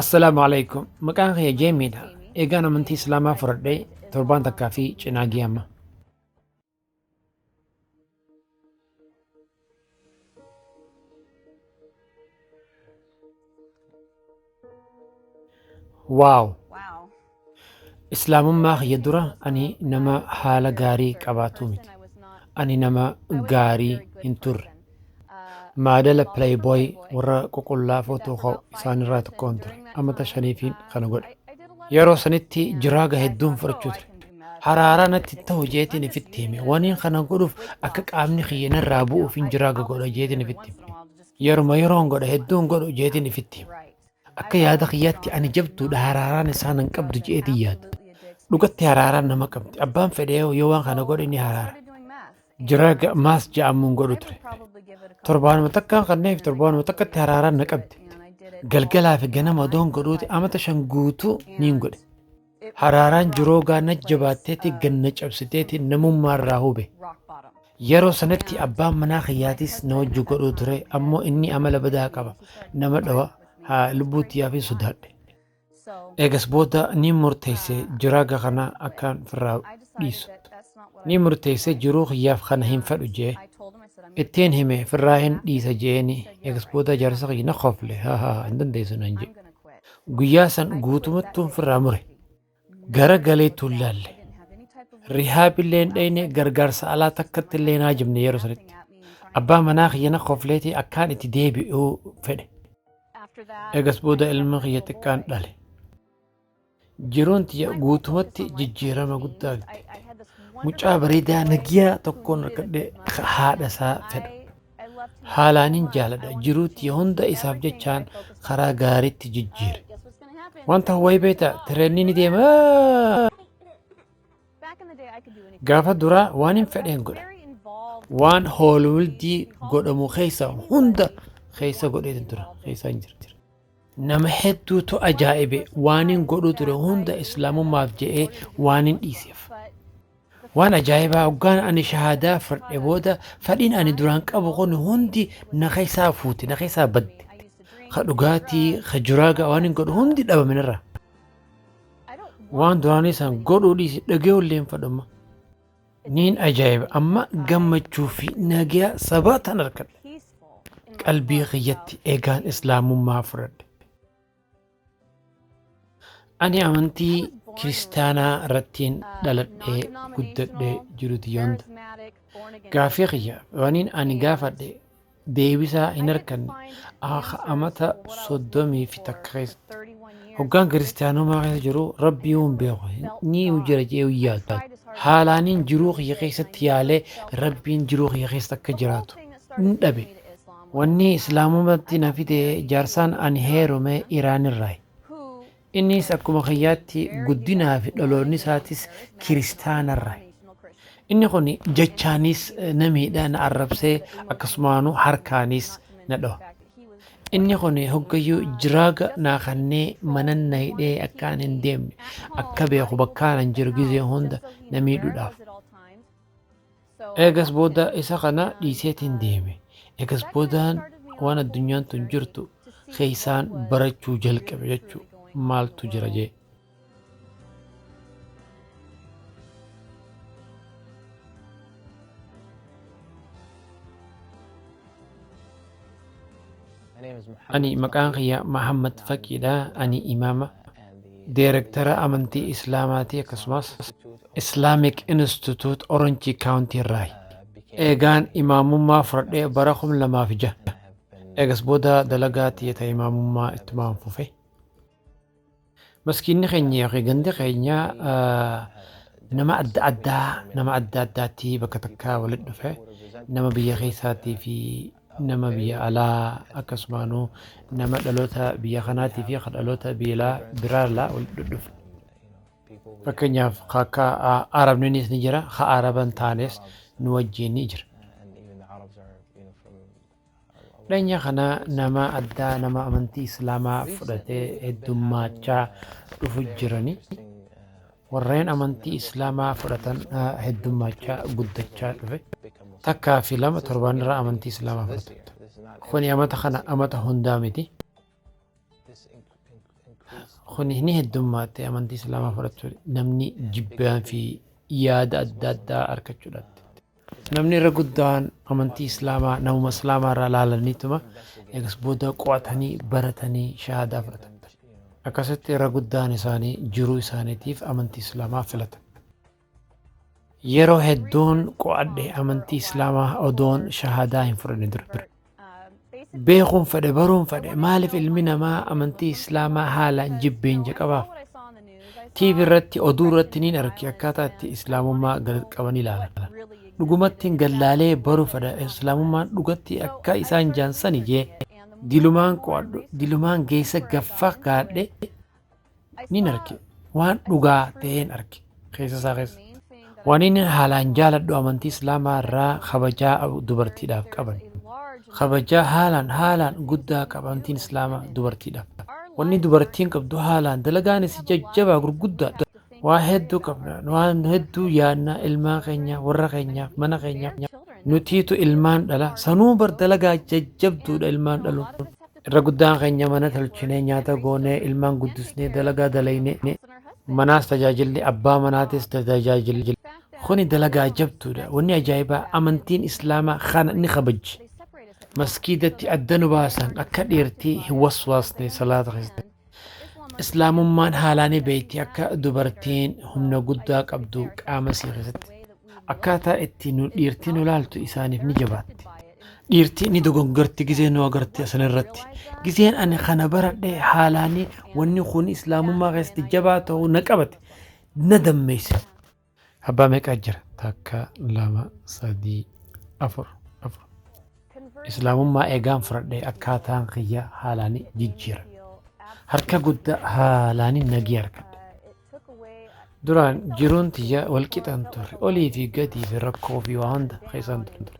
Assalaamu alaikum. Maqaan kiyya Jeemiidha. Eegaan amantii Islaamaa fudhadhee torbaan takkaa fi cinaa gee amma. Waaw! Islaamummaa kiyya dura ani nama haala gaarii qabaatu miti. Ani nama gaarii hin turre. Maadala playboy warra ququllaa footoo ka'u isaanirraa tokkoon ture. Amata shaniifiin kana godhe. Yeroo sanitti jiraaga hedduun fudhachuu ture. Haraaraa natti ta'u jeetiin ifitti hime. Waniin kana godhuuf akka qaamni kiyya narraa bu'uuf hin jiraaga godha jeetiin ifitti hime. Yeruma yeroon godha hedduun godhu jeetiin ifitti hime. Akka yaada kiyyaatti ani jabduudha haraaraan isaa nan qabdu je'eetiin yaada. Dhugatti haraaraan nama qabdi. Abbaan fedhee yoo waan kana godhe ni haraara. Jira ga- maas ja'amuun godhu ture. Torbaanuma takkaan kanneef torbaanuma takkatti haraaraan na qabdi. Galgalaa fi ganama odoon godhuuti amata shan guutuu niin godhe. Haraaraan jiroogaa na jabaatteeti gad na cabsiteeti namummaa irraa hube. Yeroo sanatti abbaan manaa kiyyaatiis na wajji godhuu ture ammoo inni amala badaa qaba nama dhawa haa lubbuu tiyyaafin sodaadhe. Eegas booda ni murteesse jiraaga kana akkaan firraa dhiisu. Ni murteesse jiruu kiyyaaf kana hin fedhu jee. Ittiin hime firraa hin dhiisa jeeni eegas booda jaarsa kiyya na kofle haa haa hin dandeessu nan jee. Guyyaa san guutumatti ofirraa mure. Gara galee tuun laalle. Rihaab illee hin dhayne gargaarsa alaa takkatti illee hin haajamne yeroo sanitti. Abbaa manaa kiyya na kofleetii akkaan itti deebi'uu fedhe. Egas booda ilma kiyya xiqqaan dhale. Jiruun tiyya guutumatti jijjiirama guddaa argiteetti. Mucaa bareedaa nagiyaa tokkoon argadhe ka haadha isaa fedhu. Haalaanin jaaladha. Jiruu tiyya hunda isaaf jechaan karaa gaariitti jijjiire. Wanta wayii beektaa tireenii ni deema. Gaafa duraa waan hin fedheen godha. Waan hoolwildii godhamu keessa hunda keessa godheetu tura. Keessa hin jira. Nama hedduutu ajaa'ibe, waanin godhuu ture hunda Islaamummaaf je'ee waanin dhiiseef. Waan ajaa'ibaa hoggaan ani shahaadaa fudhadhe booda fadhiin ani duraan qabu kun hundi na keessaa fuute, na keessaa badde. Ka dhugaatii, ka juraagaa waanin godhu hundi dhabame narraa. Waan duraanii san godhuu dhiisi, dhagayuu illee hin fadhumma. Niin ajaa'iba amma gammachuu fi nagaa sabaa tan argadhe qalbii kiyyatti egaan islaamummaa fudhadhe. Ani amantii kiristaanaa irrattiin dhaladhee guddadhee jiruti yoonta. Gaafii kiyya waniin ani gaafadhe deebisaa hin arkanne akka amata soddomii fi takka keessatti hoggaan kiristaanummaa keessa jiru rabbii hin beeku ni jira jee hin yaadu haalaaniin jiruu kiyya keessatti yaalee rabbiin jiruu kiyya keessa akka jiraatu hin dhabe wanni islaamumatti na fide jaarsaan ani heerume iraanirraa Innis akkuma kiyyaatti guddinaa fi dhaloonni isaatis kiristaanarra. Inni kun jechaanis na miidha, na arrabsee akkasumaanuu harkaanis na dhoha. Inni kun hoggayyuu jiraaga naa kannee manan na hidhee akkaan hin deemne akka beeku bakkaanan jiru gizee hunda na miidhuudhaaf. Eegas booda isa kana dhiiseetiin deeme. Eegas boodaan waan addunyaan tun jirtu keessaan barachuu jalqabe jechuu maaltu jira jee. Ani maqaan kiyya Mahammad Faqiidha. Ani imaama deerektara amantii Islaamaati akkasumas Islamic Institute Orange County irraa. Eegaan imaamummaa fudhadhee bara kum lamaa fi jaha. Eegas booda dalagaa tiyya ta imaamummaa ittumaan fufe. Maskiinni keenya yookiin gandi keenya nama adda addaa nama adda addaatti bakka takkaa walitti dhufe nama biyya keessaatii fi nama biyya alaa akkasumaanuu nama dhaloota biyya kanaatii fi kan dhaloota biyya biraarraa walitti dhufe. Fakkeenyaaf akka Arabniinis ni jira, ka Araban taanes nu wajjin ni jira. Dhanya kana nama addaa nama amantii islaamaa fudhatee heddummaachaa dhufu jirani. Warreen amantii islaamaa fudhatan heddummaachaa guddachaa dhufe. Takkaa fi lama torbaan irraa amantii islaamaa fudhatu. Kuni amata kana amata hundaa miti. Kun ni heddummaatte amantii islaamaa fudhachuu namni jibbaan fi yaada adda addaa argachuudhaatti. Namni irra guddaan amantii islaamaa namuma islaamaa irraa laalaniituma eegas booda qo'atanii baratanii shahaadaa fudhatan. Akkasitti irra guddaan isaanii jiruu isaaniitiif amantii islaamaa filatan. Yeroo hedduun qo'adhe amantii islaamaa odoon shahaadaa hin fudhanne dura. Beekuun fedhe baruun fedhe maaliif ilmi namaa amantii islaamaa haalaan jibbeen jaqabaaf. TV irratti oduu irratti niin arge akkaataa itti islaamummaa gad qabanii ilaalan. Dhugumattiin gallaalee baruu fedha islaamummaan dhugatti akka isaan jaansani jee dilumaan qo'adhu dilumaan geessa gaffa gaadhe Nin arge. Waan dhugaa ta'een arge. Keessa isaa keessa. Waan inni haalaan jaaladhu amantii Islaamaa irraa kabajaa dubartiidhaaf qaban. Kabajaa haalaan haalaan guddaa qaba amantiin Islaamaa dubartiidhaaf. Wanni dubartiin qabdu haalaan dalagaanis jajjabaa gurguddaa waa hedduu qabna waan hedduu yaadna ilmaa keenya warra keenyaaf mana keenyaaf nutiitu ilmaan dhala sanuu bar dalagaa jajjabduudha ilmaan dhaluun. Irra guddaan keenya mana tolchinee, nyaata goonee, ilmaan guddisnee, dalagaa dalaynee, manaas tajaajilli, abbaa manaatis tajaajilli. Kuni dalagaa jabduudha. Wanni ajaa'ibaa amantiin Islaamaa kana ni kabajji. Maskiidatti adda nu baasan akka dhiirtii hin waswaasne salaata keessatti. Islaamummaan haalaa ni beekti akka dubartiin humna guddaa qabdu qaama isii keessatti. Akkaataa itti nu dhiirtii nu laaltu isaaniif ni jabaatti. Dhiirtii ni dogoggarti gizee nu agarti asanirratti. Gizeen ani kana baradhe haalaanii wanni kun islaamummaa keessatti jabaa ta'uu na qabate na dammeessa. Abbaa meeqa jira takka lama sadii afur afur islaamummaa eegaan fudhadhe akkaataan kiyya haalaani jijjiira harka guddaa haalaani nagii argadhe duraan jiruun tiyya wal qixan turre olii fi gadii fi rakkoo fi waa hunda keessan turre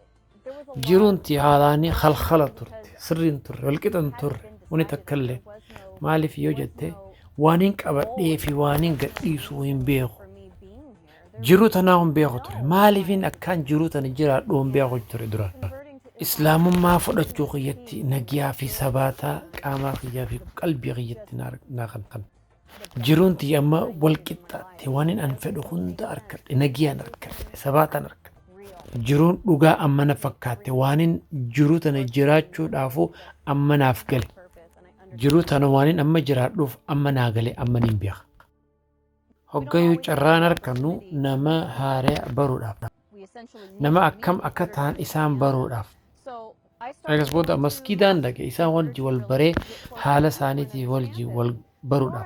jiruunti haalaanii halkala turte sirriin turre walqixan turre wani takka illee maaliif yoo jette waaniin qabadhee fi waaniin gadhiisuu hin beeku jiruu tanaa hin beeku ture maaliifin akkaan jiruu tana jiraadhu hin beeku ture dura islaamummaa fudhachuu kiyyatti nagiyaa fi sabaataa qaamaa kiyyaa fi qalbii kiyyatti naa kan kan Jiruun tiyya amma wal qixxaatte waanin an fedhu hunda arkadhe nagiyaan arkadhe sabaataan arkadhe. Jiruun dhugaa amma na fakkaatte waanin jiruu tana jiraachuudhaafuu amma naaf gale. Jiruu tana waanin amma jiraadhuuf amma naa gale amma niin beeka. Hoggayuu carraan arkannu nama haaraya baruudhaaf. nama akkam akka ta'an isaan baruudhaaf Eegas booda maskiidaan dhaqe isaan wajji wal baree haala isaaniitii wajji wal barudha.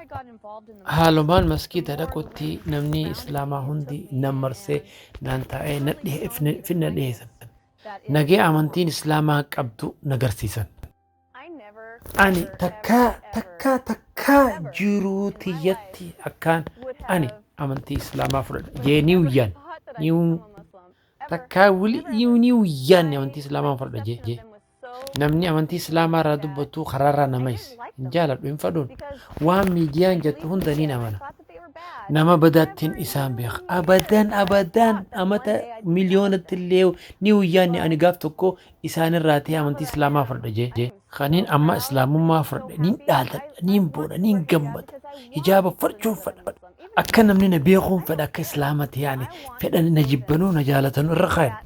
Haalumaan maskiida dhaqutti namni islaamaa hundi nan marsee naan taa'ee na dhihe- fi na dhiheessan. Nagee amantiin islaamaa qabdu na garsiisan. Ani takkaa takkaa takkaa jiruu tiyyatti akkaan ani amantii islaamaa fudhadha jee ni uyyaan ni takkaa wili iyu ni uyyaan amantii islaamaa fudhadha jee jee namni amantii islaamaa irraa dubbattuu karaa irraa nama is hin jaaladhu hin fadhuun waan miidiyaan jettu hunda niin amana nama badaattiin isaan beeka abadan abadan amata miliyoonatti illee ni uyyaan ani gaaf tokko isaan irraatii amantii islaamaa fardha jee kaniin amma islaamummaa fardha niin dhaaltadha niin boona niin gammada hijaaba farchuun fadha akka namni na beekuun fedha akka islaamati yaani fedha na jibbanuu na jaalatanu irra kaayan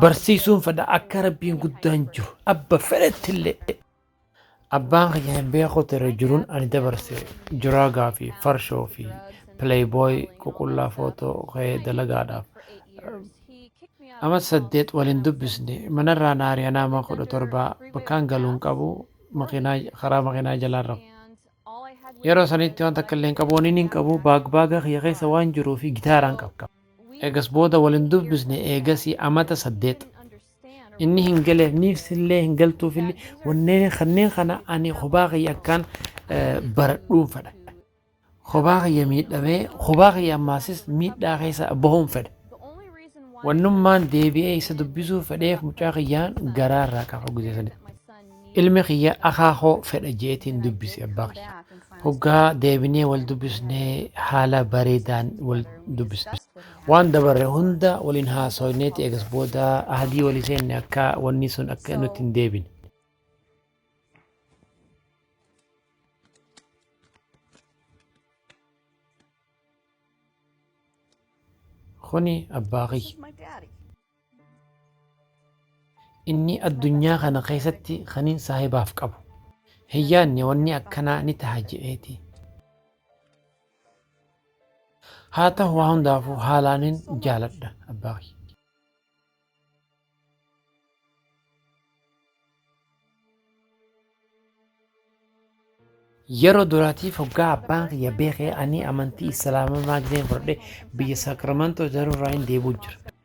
barsiisuun fedha akka rabbiin guddaan jiru abba fedhettillee Abbaan kiyya hin beeku ture jiruun ani dabarse jiraa gaafi farshoo fi playboy ququllaa footoo ka'ee dalagaadhaaf ama saddeet waliin dubbisne manarraa na ari'an ama kudha torbaa bakkaan galuun qabu makiinaa karaa makiinaa jalaan rafu. Yeroo sanitti waan takka illee hin qabu waniin hin qabu baag baaga kiyya keessa waan jiruu fi gitaaraan qaba. Eegas booda waliin dubbisne eegasii amata saddeet. inni hin galeef niif sillee hin galtuuf illee wanneen kanneen kana ani kophaa kiyya akkaan eh, baradhuun fedha. Kophaa kiyya miidhamee kophaa kiyya ammaasis miidhaa keessa bahuun fedha. Wannummaan deebi'ee isa dubbisuu fedheef mucaa kiyyaan garaa irraa qaba guyyaa sanitti. Ilmi kiyya akhaa koo fedha je'eetiin dubbise abbaa kiyya. Hoggaa deebinee wal dubbisne haala bareedaan wal dubbisne. Waan dabarre hunda waliin haasooyneeti eegas booda ahadii walii seenne akka wanni sun akka nutti hin deebine. Kuni abbaa kiyya. Inni addunyaa kana keessatti kanin saahibaaf qabu hin yaadne wanni akkanaa ni taha je'eeti. Haa tahu waa hundaafuu haalaanin jaaladha abbaa kiyya. Yeroo duraatiif hoggaa abbaan kiyya beekee ani amantii islaamaa maagdeen fudhadhe biyya Saakramantoo ijaarurraa hin deebi'u jira.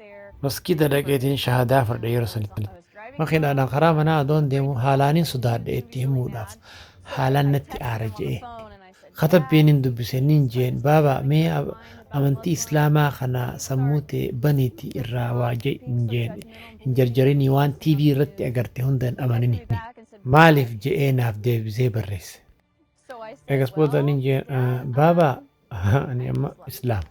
Maskiida dhaqeetiin shahaadaa fudhadhe yeroo sanitti. Makiinaadhaan karaa manaa adoon deemu haalaanin sodaadhe itti himuudhaaf haalaan natti aare je'e. Katabbiin hin dubbise niin jeen baaba mee amantii islaamaa kana sammuu tee baniiti irraa waa je'i niin jeen hin jarjarinii waan tv irratti agarte hunda hin amanini maaliif je'ee naaf deebisee barreesse egas booda niin jeen baaba ani amma islaam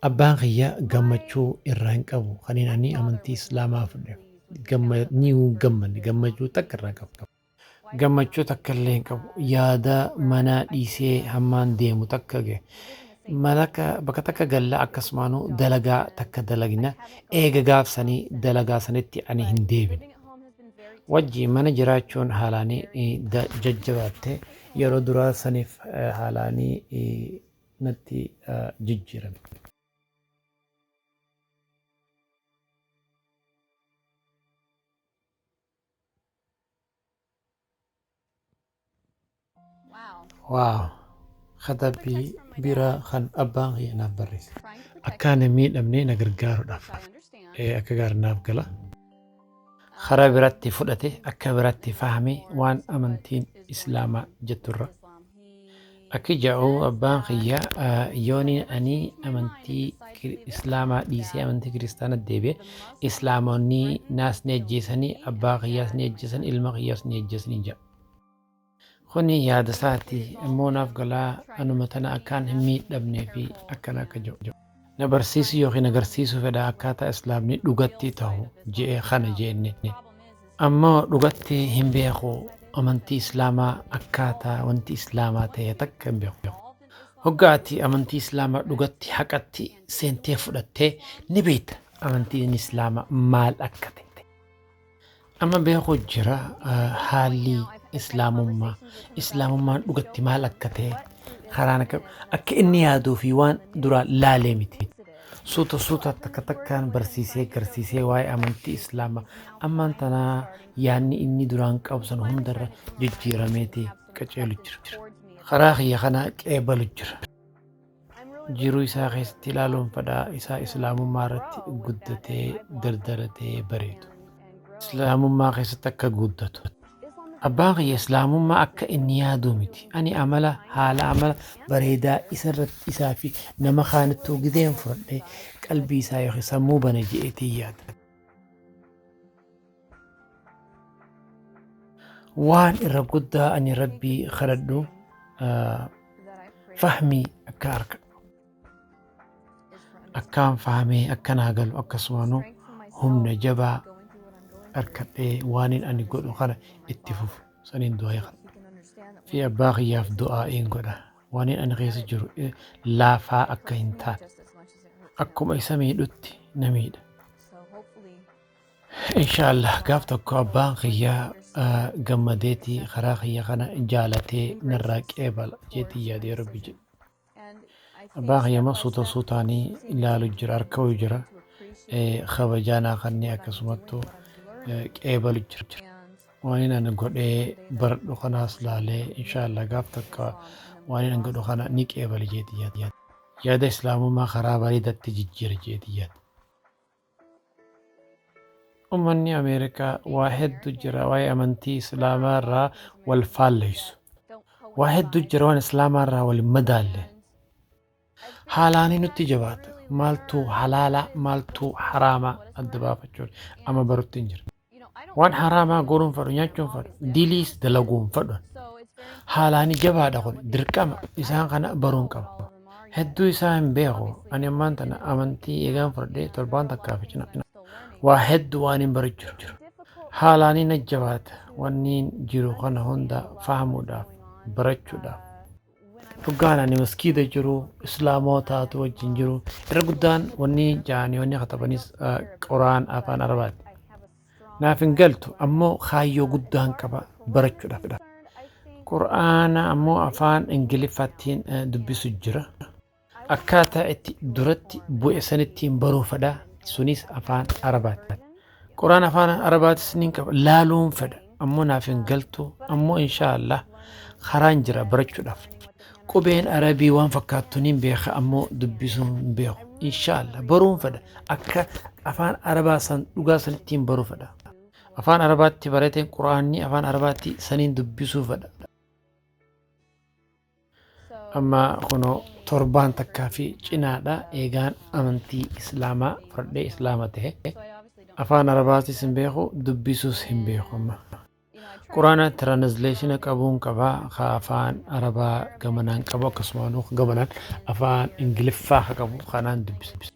abbaan kiyya gammachuu irraa hin qabu kaniin ani amantii islaamaa fudhe gammachuu takka irraa hin qabu Gammachuu takka illee hin qabu. Yaada manaa dhiisee hammaan deemu takka ge. Malaka bakka takka galla akkasumaanuu dalagaa takka dalagna eega gaafsanii dalagaa sanitti ani hin deebine. Wajji mana jiraachuun haalaanii eh, da- jajjabaatte yeroo duraa saniif eh, haalaanii eh, natti eh, jijjiirame. Waaw! Katabbii biraa kan abbaan kiyya naaf barreesse. Akka ani hin miidhamne na gargaaruudhaaf ee akka gaari naaf gala. Karaa biratti fudhate akka biratti fahamee waan amantiin Islaamaa jetturra. Akki ja'uu abbaan kiyya yooniin anii amantii islaamaa dhiisee amantii kiristaanatti deebi'e islaamonni naas ni ajjeesanii abbaa kiyyaas ni ajjeesan ilma kiyyaas ni ajjeesanii ja'a. Kuni yaada isaati immoo naaf galaa anuma tana akkaan hin miidhamnee fi akkana akka ja'u. Na barsiisuu yookiin agarsiisuu fedha akkaataa Islaamni dhugatti tahu je'e kana je'enne. Ammoo dhugatti hin beeku amantii Islaamaa akkaataa wanti Islaamaa tahe takka hin beeku. Hoggaa ati amantii Islaamaa dhugatti haqatti seentee fudhatte ni beeyta amantiin Islaamaa maal akka tahe. Amma beeku jira haalli islaamummaa islaamummaan dhugatti maal akka ta'e karaan akka akka inni yaaduu fi waan duraa laalee miti. Suuta suuta takka takkaan barsiisee garsiisee waa'ee amantii islaamaa ammaan tanaa yaanni inni duraan qabu sana hundarra jijjiirameeti qaceelu jira. Karaa kiyya kana qeebalu jira. Jiruu isaa keessatti ilaaluun fadhaa isaa islaamummaa irratti guddatee dardaratee bareedu. Islaamummaa keessatti akka guddatu. Abbaan kiyya islaamummaa akka inni yaaduu miti. Ani amala haala amala bareedaa isa irratti isaa fi nama kaanittuu gideen fudhadhee qalbii isaa yookiin sammuu bana je'eetiin yaada. waan irra guddaa ani rabbii kadhadhu ah, fahmii akka arkadhu akkaan fahamee akka naa galu akkasumaanu humna jabaa arkadhee waanin ani godhu kana itti fufu saniin du'aa kana fi abbaa kiyyaaf du'aa in godha waanin ani keessa jiru eh, laafaa akka hin taane akkuma isa miidhutti na miidha Inshallah gaaf tokko abbaan kiyya gammadeeti karaa kiyya kana jaalatee narraa qeebala jeetii yaadee rabbi jedhe. Abbaan kiyya immoo suuta suutaanii ilaalu jira harka'u jira kabajaanaa kanneen akkasumattuu qeebalu jira. Waan inni ani godhee baradhu kanaas laalee inshallah gaaf tokko waan inni godhu kana ni qeebala jeetii yaadee. Yaada islaamummaa karaa bareedatti jijjiira jeetii yaadee. Ummanni Ameerikaa waa heddu jira waa'ee amantii Islaamaa irraa wal faalleysu. Waa heddu jira waan Islaamaa irraa wal hin madaalle. Haalaanii nutti jabaata. Maaltu halaalaa maaltu haraamaa adda baafachuun amma barutti hin jira. Waan haraamaa godhuun fadhu nyaachuun fadhu diliis dalaguun fadhu haalaani jabaadha kun dirqama isaan kana baruun qaba. Hedduu isaa hin beeku ani ammaan tana amantii eegaan fudhadhee torbaan takkaa fi cina waa hedduu waan hin barachuu jiru. Haalaanii na jabaata wanniin jiru kana hunda fahamuudhaaf barachuudhaaf. Dhugaan ani maskiida jiru islaamootaatu wajjin jiru irra guddaan wanni jaanii wanni katabanis quraan afaan arabaati naaf hin galtu ammoo kaayyoo guddaan qaba barachuudhaaf qur'aana ammoo afaan ingiliffaattiin dubbisu jira Akkaataa itti duratti bu'e sanittiin baruu fedha. Sunis afaan Arabaati. Quraan afaan Arabaatis nin qaba. Laaluun fedha. Ammoo naaf hin galtu. Ammoo inshaallah karaan jira barachuudhaaf. Qubeen Arabii waan fakkaattu nin beeka ammoo dubbisuu hin beeku. Inshaallah baruun fedha. Akka afaan Arabaa san dhugaa sanittiin baruu fedha. Afaan Arabaatti barateen Quraanni afaan Arabaatti saniin dubbisuu fedha. Amma kunoo torbaan takkaa fi cinaadha eegaan amantii islaamaa fudhadhee islaama tahe. Afaan Arabaatis hin beeku, dubbisuus hin beeku amma. Quraana tiraanizleeshina qabuun qaba, ka afaan Arabaa gamanaan qabu akkasumaan gamanaan afaan Ingiliffaa ka qabu kanaan dubbisa.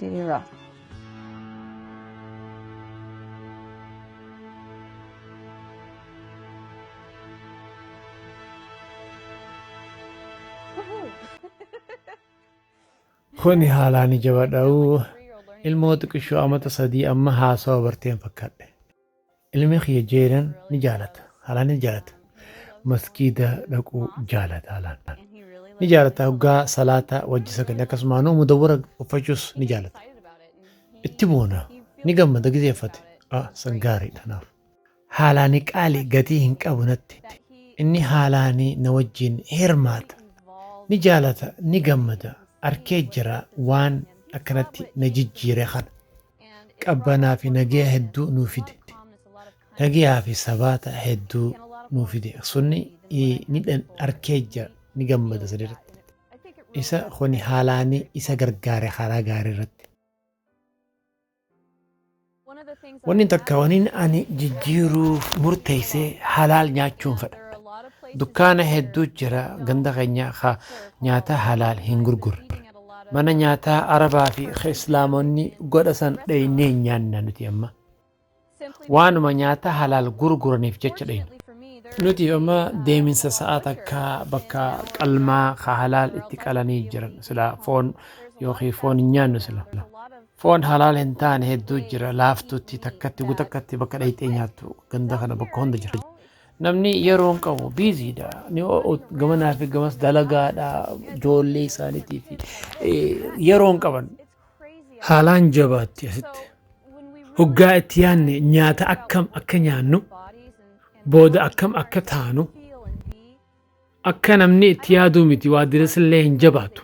diriira. Kuni haalaan ija badhaa'uu ilmoo xiqishoo amata sadii amma haasawa barteen fakkadhe. Ilmi kiyya Jayden ni jaalata. Haalaan ni jaalata. Masgiida dhaquu jaalata haalaan. Ni jaalata hoggaa salaata wajji sagale akkasumaanuu mudawwara uffachuus ni jaalata. Itti boona. Ni gammada gizee uffate. Ah, san gaariidha kanaaf. Haalaani qaali gatii hin qabu natti. Inni haalaani na wajjiin hirmaata. Ni jaalata, ni gammada. Arkee jira waan akkanatti na jijjiire kana. qabbanaa fi nageya hedduu nuu fide nageyaa fi sabaata hedduu nuu fide sunni ni arkee jira ni gammada sanirratti isa kuni haalaanii isa gargaare karaa gaarii irratti wanni takka waniin ani jijjiiruuf murteessee halaal nyaachuun fedha dukkaana hedduu jira ganda keenya nyaataa halaal hin gurgurre Mana nyaataa Arabaa fi ka Islaamonni godha san dhaynee hin nyaanna nuti amma. Waanuma nyaataa halaal gurguraniif jecha dhayna. Nuti amma deeminsa sa'a takka bakka qalmaa ka halaal itti qalanii jiran sila foon yookiin foon hin nyaannu sila. Foon halaal hin taane hedduu jira laaftutti takkatti gutakkatti bakka dhayxee nyaattu ganda kana bakka hunda jira. Namni yeroo hin qabu busy dha. Ni ho'u- Gamanaa fi gamas dalagaadha. Ijoollee isaaniitiif yeroo hin qaban. Haalaan jabaatti asitti. Hoggaa itti yaanne nyaata akkam akka nyaannu, booda akkam akka taanu, akka namni itti yaaduu miti waa diresillee hin jabaatu.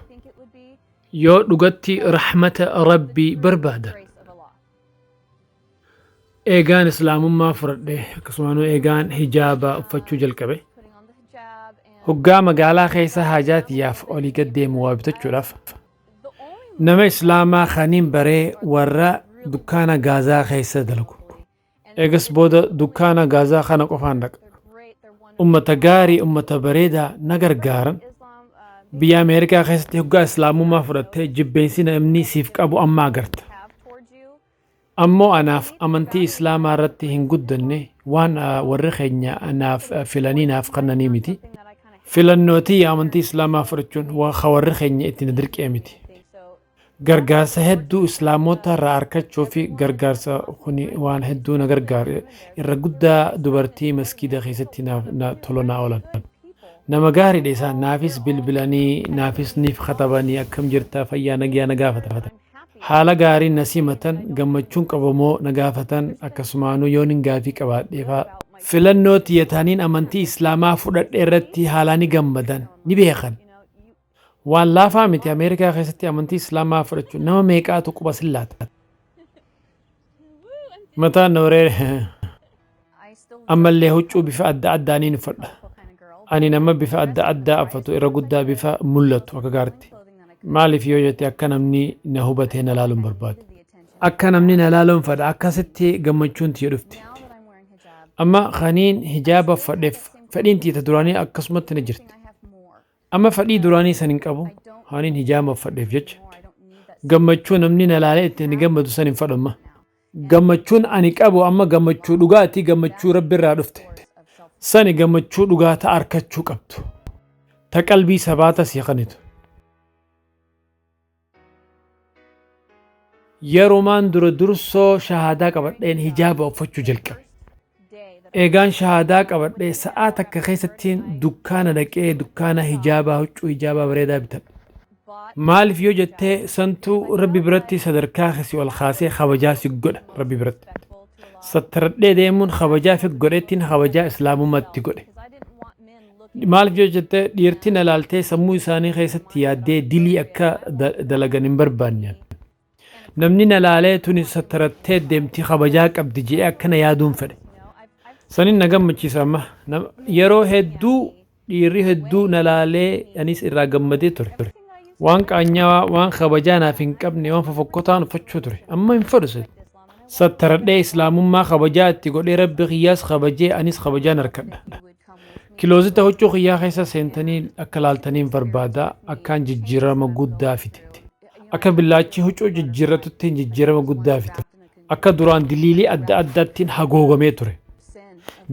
Yoo dhugatti rahmata Rabbii barbaadan. Eegaan Islaamummaa fudhadhe akkasumas eegaan hijaaba uffachuu jalqabe. Hoggaa magaalaa keessa haajaa tiyyaaf olii gad deemu waa bitachuudhaaf nama Islaamaa kaniin baree warra dukkaana gaazaa keessa dalagu. Eegas booda dukkaana gaazaa kana qofaan dhaqa. Ummata gaarii ummata bareedaa na gargaaran biyya Ameerikaa keessatti hoggaa Islaamummaa fudhattee jibbeensi namni siif qabu amma agarta. Ammoo anaaf amantii islaamaa irratti hin guddanne waan warri keenya anaaf filanii naaf kannanii miti. Filannoo tiyya amantii islaamaa fudhachuun waan ka warri keenya itti na dirqee miti. Gargaarsa hedduu islaamota irraa arkachuu fi gargaarsa kuni waan hedduu na gargaare irra guddaa dubartii maskiida keessatti naaf na tola naa oolan. Nama gaariidha isaan naafis bilbilanii naafis niif katabanii akkam jirta fayyaa nagyaa na gaafatan. Haala gaariin na simatan, gammachuun qabamoo na gaafatan, akkasumaanuu yoonin gaafii qabaadheefaa. Filannoo tiyya taniin amantii Islaamaa fudhadhe irratti haalaa ni gammadan, ni beekan. Waan laafaa miti Ameerikaa keessatti amantii Islaamaa fudhachuun nama meeqaatu quba sin laata? Mataan na wareere. Ammallee huccuu bifa adda addaa niin uffadha. Ani nama bifa adda addaa uffatu irra guddaa bifa mul'atu akka gaaritti. Maaliif yoo jette akka namni na hubatee na laaluun barbaadu. Akka namni na laaluun fadha akkasitti gammachuun tiyya dhufti. Amma kaniin hijaaba uffadheef fedhiin tiyya ta duraanii akkasumatti na jirti. Amma fedhii duraanii san hin qabu kaniin hijaaba uffadheef jecha. Gammachuu namni na laalee ittiin gammadu san hin fadhu amma. Gammachuun ani qabu amma gammachuu dhugaati, gammachuu Rabbi irraa dhufte. Sani gammachuu dhugaa ta arkachuu qabdu. Ta qalbii sabaata sii kanitu. Yerumaan dura dursoo shahaadaa qabadheen hijaaba uffachuu jalqabe. Eegaan shahaadaa qabadhe sa'aa takka keessattiin dukkaana dhaqee dukkaana hijaabaa huccuu hijaabaa bareedaa bitadhe. Maaliif yoo jettee santu rabbi biratti sadarkaa kee si ol kaasee kabajaa si godha rabbi biratti. Sattaradhee deemuun kabajaa fi godheettiin kabajaa islaamummaatti godhe. Maaliif yoo jettee dhiirtiin alaaltee sammuu isaanii keessatti yaaddee dilii akka da- dalagan hin barbaanne. Namni na laalee tuni sattarattee deemti kabajaa qabdi je'ee akkana yaaduun fedhe. Sanin na gammachiisa amma. Nam- Yeroo hedduu dhiirri hedduu na laalee anis irraa gammadee ture. Waan qaanyawaa, waan kabajaa naaf hin qabne, waan fofokkotaan uffachuu ture. Amma hin fedhu sun. Sattaradhee islaamummaa kabajaa itti godhee rabbi kiyyaas kabajee anis kabajaan harkadha. Kiloozita huccuu kiyyaa keessa seentanii akka laaltaniin barbaada akkaan jijjiirama guddaa fide. Akka billaachi huccuu jijjiirratuttiin jijjiirama guddaa fide. Akka duraan diliilii adda addaattiin hagoogamee ture.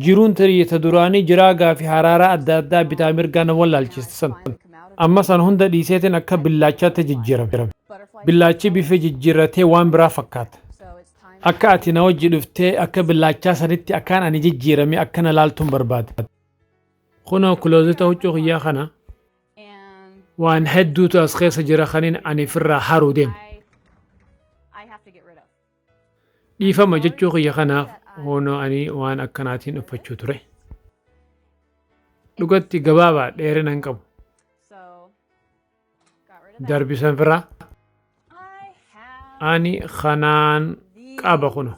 Jiruun tarii ta duraanii jiraagaa fi haraaraa adda addaa bitaa mirgaa na wallaalchiste san. Amma san hunda dhiiseetiin akka billaachaatti jijjiirame. Billaachi bifa jijjiirratee waan biraa fakkaata. Akka ati na wajji dhuftee akka billaachaa sanitti akkaan ani jijjiirame akka na laaltuun barbaada. Kunoo kiloozeta huccuu kiyyaa kana. Waan hedduutu as keessa jira kanin ani firraa haruu deemu. Dhiifama jechuu kiyya kanaaf hoonoo ani waan akkanaatiin uffachuu ture. Dhugatti gabaabaa dheerina hin qabu. Darbisan firaa. Ani kanaan qaba kuno.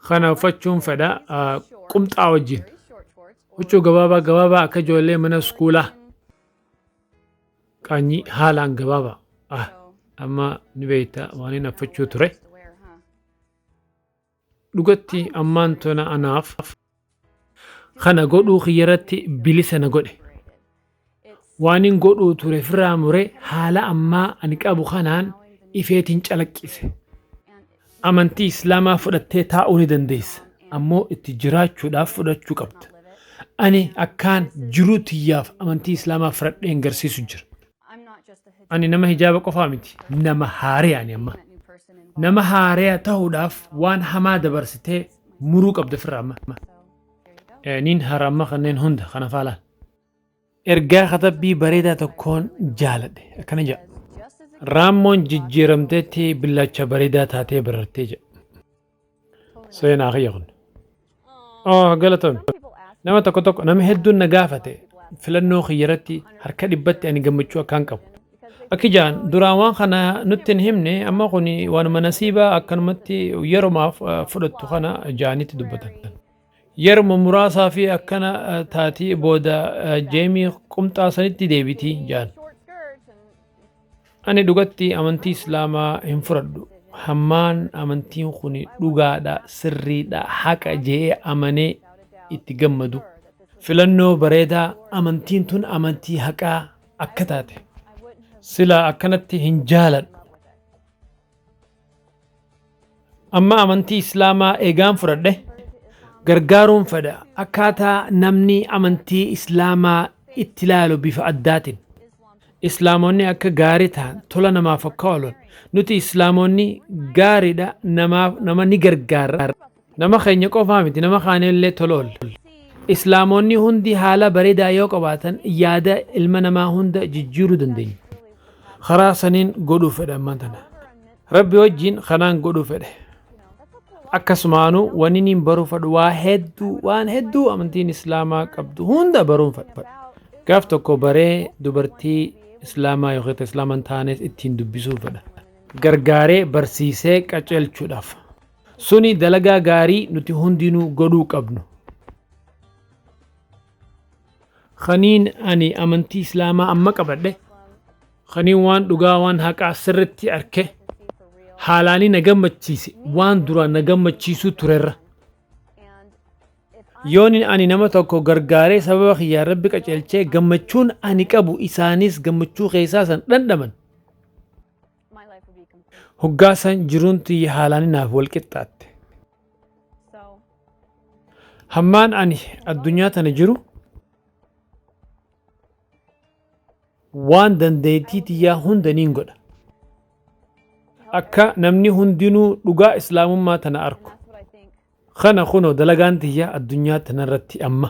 Kana uffachuun fedha qumxaa wajjin. Huccuu gabaabaa gabaabaa akka ijoollee mana iskuulaa. Qaanyii haalaan gabaabaa. Ah, amma ni beekta waan hin affachuu ture. Dhugatti ammaan tona anaaf Kana godhuu kiyyarratti bilisa na godhe. Waanin godhuu ture firraa mure haala ammaa ani qabu kanaan ifeetiin calaqqise. Amantii Islaamaa fudhattee taa'uu ni dandeessa. Ammoo itti jiraachuudhaaf fudhachuu qabda. Ani akkaan jiruu tiyyaaf amantii Islaamaa fudhadheen garsiisu jira. Ani nama hijaaba qofaa miti, nama haareya ani amma. Nama haareya tahuudhaaf waan hamaa dabarsitee muruu qabda firra amma. Eh, Niin hara amma kanneen hunda kana faalaan. Ergaa katabbii bareedaa tokkoon jaaladhe akkana jedha. Raammoon jijjiiramteetti billaacha bareedaa taatee barartee jedha. Seenaa kiyya kun. Oh, galatomi. Nama tokko tokko nama hedduun na gaafate filannoo kiyya irratti harka dhibbatti ani gammachuu akkaan qabu. Akki jaan duraan waan kana nutti hin himne amma kun waanuma nasiibaa akkanumatti yeromaaf eh, fudhattu kana jaanitti dubbatan. Yeruma muraasaafii akkana taati booda Jeemii qumxaa sanitti deebiti jaan. Ani dhugatti amantii Islaamaa hin fudhadhu. Hammaan amantiin kun dhugaadha, sirriidha, haqa je'ee amanee itti gammadu. Filannoo bareedaa amantiin tun amantii haqaa akka taate silaa akkanatti hin jaaladhu. Amma amantii Islaamaa eegaan fudhadhe gargaaruun fedha. Akkaataa namni amantii Islaamaa itti ilaalu bifa addaatiin. Islaamonni akka gaarii ta'an tola namaaf akka oolan nuti Islaamonni gaariidha namaaf nama ni gargaarra. Nama keenya qofaa miti nama kaanillee tola oolla. Islaamoonni hundi haala bareedaa yoo qabaatan yaada ilma namaa hunda jijjiiruu dandeenya. Karaa saniin godhuu fedha ammaan tana. Rabbi wajjiin kanaan godhuu fedhe. Akkasumaanuu wanni niin baruu fadhu waa hedduu waan hedduu amantiin Islaamaa qabdu hunda baruun fadhu. Gaaf tokko baree dubartii Islaamaa yookiin ta Islaama hin taanes ittiin dubbisuu fedha. Gargaaree barsiisee qaceelchuudhaaf. Suni dalagaa gaarii nuti hundinuu godhuu qabnu. Kaniin ani amantii Islaamaa amma qabadhe, kaniin waan dhugaa waan haqaa sirritti arke, haalaanii na gammachiise waan duraan na gammachiisuu turerra. Yooni ani nama tokko gargaaree sababa kiyyaan rabbi qaceelchee gammachuun ani qabu isaanis gammachuu keessaa san dhandhaman. my life would be complete. Hoggaa san jiruun tiyya haalaan naaf wal qixxaatte. So Hammaan ani addunyaa tana jiru waan dandeettii tiyyaa hunda niin godha. Akka namni hundinuu dhugaa islaamummaa tana and arku. that's what I think. Kana kunoo dalagaan tiyya addunyaa tanarratti amma.